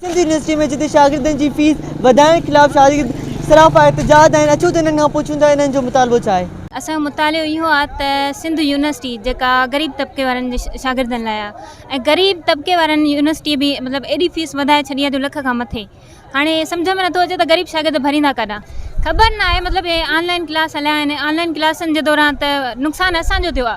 Sindh university ۾ جتي شاگردن جي فيس وڌائڻ خلاف شاگرد سراپا احتجاج آهن اچو ته انهن کان پڇون ٿا انهن جو مطالبو ڇا آهي. اسان جو مطالعو اهو آ ته سنڌ يونيورسٽي جيڪا غريب طبقي وارن جي شاگردن لاء آ ۽ غريب طبقي وارن يونيورسٽي به مطلب ايڏي فيس وڌائي ڇڏي آ جو لک کان مٿي هاڻي سمجهه ۾ نٿو اچي ته غريب شاگرد ڀريندا ڪاڏانهن خبر ناهي مطلب هي آن لائن ڪلاس هليا آهن آن لائن ڪلاسن جي دوران ته نقصان اسان جو ٿيو آ.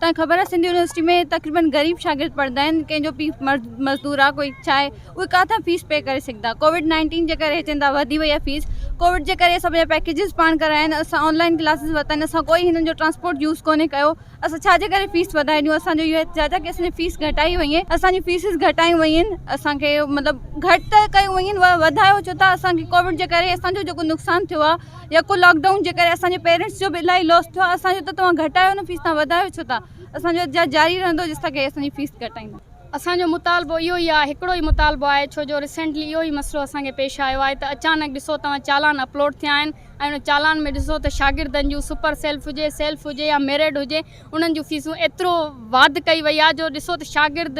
تان خبر آ سنڌ يونيورسٽي ۾ تقريبن غريب شاگرد پڙهندا آهن ڪنهن جو پي مرد مزدور آ ڪوئي ڇا آهي اهي ڪاٿان فيس پي ڪري سگهندا ڪووڊ نائنٽين جي ڪري چون ٿا وڌي وئي آ فيس ڪووڊ جي ڪري اسان پنهنجا پيڪيجز پاڻ ڪرايا آهن اسان آنلائن ڪلاسز ورتا آهن اسان ڪوئي هنن جو ٽرانسپورٽ يوز ڪونهي ڪيو اسان ڇا جي ڪري فيس وڌائي ڏيون اسان جو اهو احتجاج آ ڪي اسان جي فيس گهٽائي وئي آهن اسان جون فيسز گهٽايون ويون آهن اسان کي مطلب گهٽ ته ڪيون ويون آهن وڌايو ڇو ٿا اسان کي ڪووڊ جي ڪري اسان جو جيڪو نقصان ٿيو آ يڪو لاڪ ڊائون جي ڪري اسانجي پيرنٽس جو به الاهي لوس ٿيو آهي اسانجو ته توهان گهٽايو نه فيس توهان وڌايو ڇو ٿا اسانجو احتجاج جاري رهندو جيسي تائين اسانجي فيس گهٽائيندا اسانجو مطالبو اهو ئي آهي هڪڙو ئي مطالبو آهي ڇو جو ريسينٽلي اهو ئي مسئلو اسانکي پيش آيو آهي ته اچانڪ ڏسو توهان چالان اپلوڊ ٿيا آهن ۽ ان چالان ۾ ڏسو ته شاگردن جون سپر سيلف هجي سيلف هجي يا ميرڊ هجي انهن جون فيسون ايترو واڌ ڪئي وئي آهي جو ڏسو ته شاگرد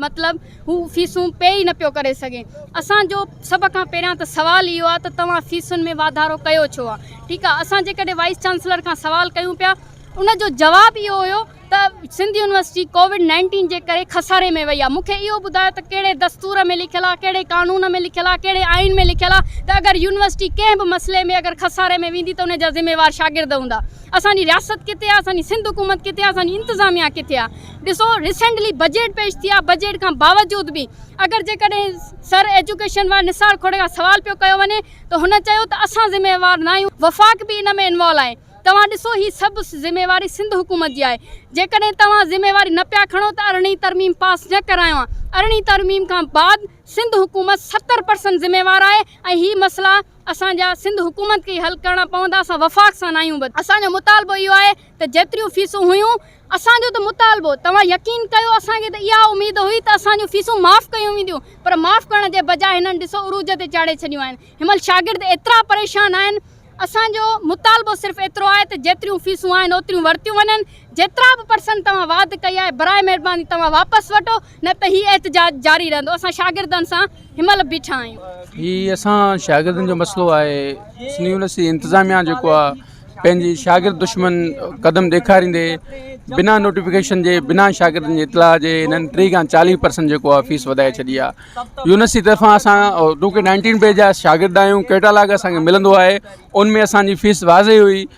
مطلب هو فيسون پي ئي نه پيو ڪري سگهي اسان جو سڀ کان پهريان ته سوال اهو آهي ته توهان فيسن ۾ واڌارو ڪيو ڇو آهي ٺيڪ آهي اسان جيڪڏهن وائيس چانسلر کان سوال ڪيون پيا ان جو جواب اهو هيو ته سنڌ يونيورسٽي ڪووڊ نائنٽين جي ڪري خساري ۾ وئي آهي مون کي اهو ٻڌايو ته ڪهڙي دستور ۾ لکيل آهي ڪهڙي قانون ۾ لکيل آهي ڪهڙي آئين ۾ لکيل آهي ته اگر يونيورسٽي ڪنهن به مسئلي ۾ اگر خساري ۾ ويندي ته ان جا ذميوار شاگرد هوندا اسان جي رياست ڪٿي آ اسان جي سنڌ حڪومت ڪٿي آ اسان جي انتظاميا ڪٿي آ ڏسو ريسينٽلي بجيٽ پيش ٿي آ بجيٽ کان باوجود به اگر جيڪڏهن سر ايجوڪيشن واري نثار کوڙي کان سوال پيو ڪيو وڃي ته هن چيو ته اسان ذميوار ناهيون وفاق به ان ۾ انوالو آهي توهان ڏسو هي سڀ ذميواري سنڌ حڪومت جي آهي جيڪڏهن توهان ذميواري نه پيا کڻو ته ارڙهين ترميم پاس نه ڪرايون آ ارڙهين ترميم کان بعد سنڌ حڪومت ستر پرسنٽ ذميوار آهي ۽ هي مسئلا اسان جا سنڌ حڪومت کي ئي حل ڪرڻا پوندا اسان وفاق سان ناهيون ٻڌل. اسان جو مطالبو اهو آهي ته جيتريون فيسون هيون اسان جو ته مطالبو توهان يقين ڪيو اسان کي ته اها اميد هئي ته اسان جون فيسون معاف ڪيون وينديون پر معاف ڪرڻ جي بجاء هنن ڏسو عروج تي چاڙهي ڇڏيون آهن هنمهل شاگرد ايترا پريشان آهن اسان جو مطالبو صرف ايترو آهي ته جيتريون فيسون آهن اوتريون ورتيون وڃن جيترا به پرسنٽ توهان واڌ ڪئي آهي براء مهرباني توهان واپس وٺو نه ته هي احتجاج جاري رهندو اسان شاگردن سان همل بيٺا آهيون. هي اسان شاگردن جو مسئلو آهي سنڌ يونيورسٽي انتظاميا جيڪو آ پنهنجي شاگرد دشمن قدم ڏيکاريندي بنا نوٽيفڪيشن جي بنا شاگردن جي اطلاع جي هنن ٽي کان چاليهه پرسنٽ جيڪو آ فيس وڌائي ڇڏي آ يونيورسٽي طرفان اسان ٽو ڪي نائنٽين بيچ جا شاگرد آهيون ڪيٽالاگ اسان کي ملندو آهي ان ۾ اسان جي فيس واضح هئي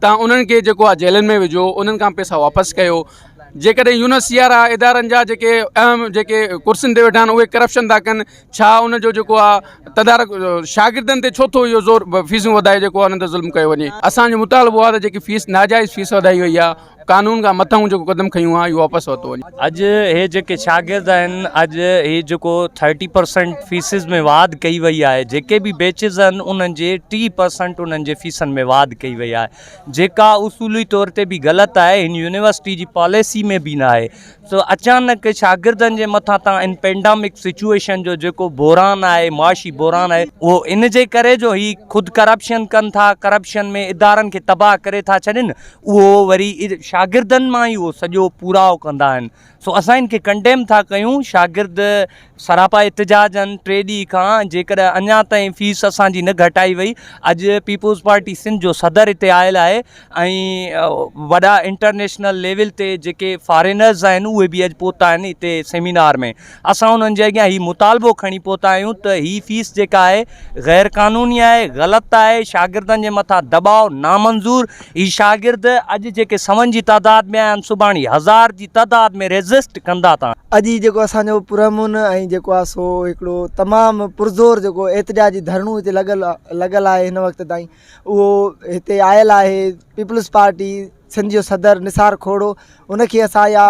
تان انهن کي جيڪو آ جيلن ۾ وجهو انهن کان پيسا واپس ڪيو جيڪڏهن يو نس سي آر آ ادارن جا جيڪي اهم جيڪي ڪرسين تي ويٺا آهن اهي ڪرپشن ٿا ڪن ڇا ان جو جيڪو آ تدارڪ شاگردن تي ڇو ٿو اهو زور فيسون وڌائي جيڪو انهن تي ظلم ڪيو وڃي اسان جو مطالبو آ ته جيڪي فيس ناجائز فيس وڌائي وئي آ قانون کان مٿاهون جيڪو قدم کنيون آهن اهي واپس ورتو وڃن. اڄ هي جيڪي شاگرد آهن اڄ هي جيڪو ٿرٽي پرسنٽ فيسز ۾ واڌ ڪئي وئي آهي جيڪي به بيچز آهن انهن جي ٽي پرسنٽ انهن جي فيسن ۾ واڌ ڪئي وئي آهي جيڪا اصولي طور تي به غلط آهي هن يونيورسٽي جي پاليسي ۾ به ناهي سو اچانڪ شاگردن جي مٿان تان ان پينڊامڪ سچويشن جو جيڪو بحران آهي معاشي بحران آهي اهو ان جي ڪري جو هي خود ڪرپشن ڪن ٿا ڪرپشن ۾ ادارن کي تباهه ڪري ٿا ڇڏين اهو وري شاگردن مان ئي اهو سڄو پورائو ڪندا آهن سو اسان ان کي ڪنڊيم ٿا ڪيون شاگرد سراپا احتجاج آهن ٽي ڏينهن کان جيڪڏهن اڃا تائين فيس اسان جي نه گهٽائي وئي اڄ پيپلز پارٽي سنڌ جو صدر هتي آيل آهي ۽ وڏا انٽرنيشنل ليول تي جيڪي فارينرز آهن اهي به اڄ پهتا آهن هتي سيمينار ۾ اسان انهن جي اڳيان هي مطالبو کڻي پهتا آهيون ته هي فيس جيڪا آهي غير قانوني آهي غلط آهي شاگردن جي مٿان دٻاء نامنظور هي شاگرد اڄ جيڪي سون جي تعداد ۾ آيا آهن سڀاڻي هزار جي تعداد ۾ ريزسٽ ڪندا ته. اڄ هي جيڪو اسان جو پرامن ۽ جيڪو آهي سو هڪڙو تمام پرزور جيڪو احتجاجي ڌرڻو هتي لڳل لڳل آهي هن وقت تائين اهو هتي آيل آهي پيپلز پارٽي سنڌ جو صدر نثار کوڙو ان کي اسان اها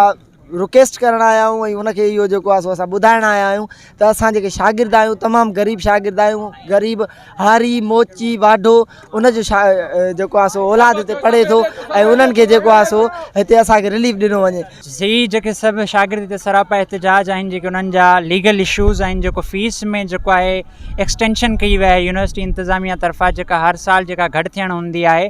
رڪويسٽ ڪرڻ آيا آهيون ۽ ان کي اهو جيڪو آهي سو اسان ٻڌائڻ آيا آهيون ته اسان جيڪي شاگرد آهيون تمام غريب شاگرد آهيون غريب هاري موچي واڍو ان جو شا جيڪو آهي سو اولاد هتي پڙهي ٿو ۽ انهن کي جيڪو آهي سو هتي اسانکي رليف ڏنو وڃي جي جيڪي سڀ شاگرد هتي سراپا احتجاج آهن جيڪي انهن جا ليگل اشوز آهن جيڪو فيس ۾ جيڪو آهي ايڪسٽينشن ڪئي وئي آهي يونيورسٽي انتظاميه طرفان جيڪا هر سال جيڪا گهٽ ٿيڻ هوندي آهي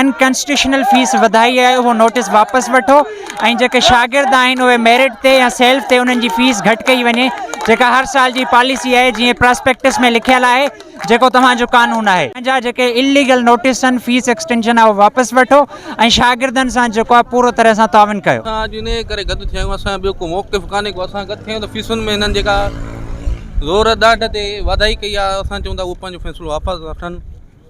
انڪانسٽيٽيوشنل فيس وڌائي آهي اهو نوٽيس واپس وٺو ۽ جيڪي شاگرد آهن اهي ميرٽ تي يا سيلف تي انهن جي فيس گهٽ ڪئي وڃي جيڪا هر سال جي پاليسي آهي جيئن پراسپيڪٽس ۾ لکيل آهي جيڪو توهان جو قانون آهي. پنهنجا جيڪي اليگل نوٽيس آهن فيس ايڪسٽينشن اهو واپس وٺو ۽ شاگردن سان جيڪو آهي پورو طرح سان تعاون ڪيو. اسان اڄ انهيء ڪري گڏ ٿيا آهيون اسان جو ٻيو ڪو موقف ڪانهي ڪو اسان گڏ ٿيا آهيون ته فيسن ۾ هنن جيڪا زور ڏاڍ تي واڌائي ڪئي آهي اسان چون ٿا اهو پنهنجو فيصلو واپس وٺن.